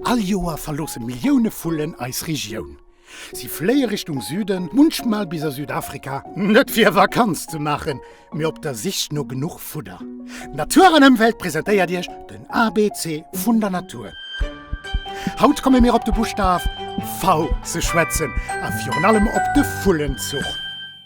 All Joer verloosse Millioune Vullen eis Regioun. Si fléie Richtung Süden, munchmal bis a Südafrika, net fir Vakanz ze maachen, mee op der Sich no genuch Fudder. Natur an Ëmwelt presentéiert Iech den ABC vun der Natur. Haut komme mir op de Buschtaf V ze schwätzen a virun allem op de Vullenzuch.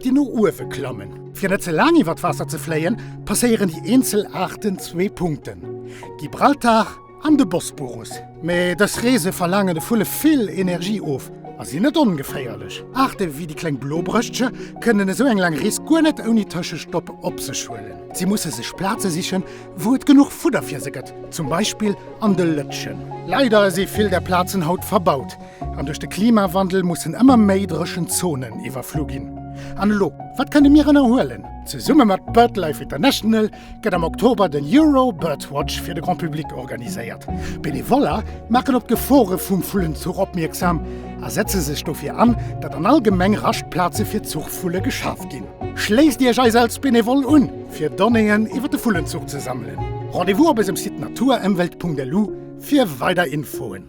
déi no uewe klammen. Fir net ze laang iwwer d'Waasser ze fléien, passéieren déi eenzel Aarten zwee Punkten, Gibraltar an de Bosporus. Mee dës Reese verlaangen de Vulle vill Energie of a sinn net ongeféierlech. Aarte wéi déi Kleng Blobrëschtche kënnen esou eng laang Rees guer net ouni Tëschestopp op sech huelen. Si musse sech Plaze sichen, wou et genuch Fudder fir se gëtt, zum Beispill an de Lëtschen. Leider si vill där Plazen haut verbaut. An duerch de Klimawandel mussen ëmmer méi dréchen Zonen iwwerflu ginn. An elo, wat kënne mir ënnerhuelen? Zesumme mat BirdLife International gëtt am Oktober den Euro Bird Watch fir de Grand Public organiséiert. Benevoller maachen op d'Gefore vum Vullenzuch opmierksam a setze sech dofir an, datt an all Gemeng Raschtplaze fir Zuchvulle geschaf ginn. Schléisst Iech eis als Benevole un, fir Donnéeën iwwer de Vullenzuch ze sammelen. Rendez-vous op ësem Site naturëmwelt.lu. fir weider Infoen.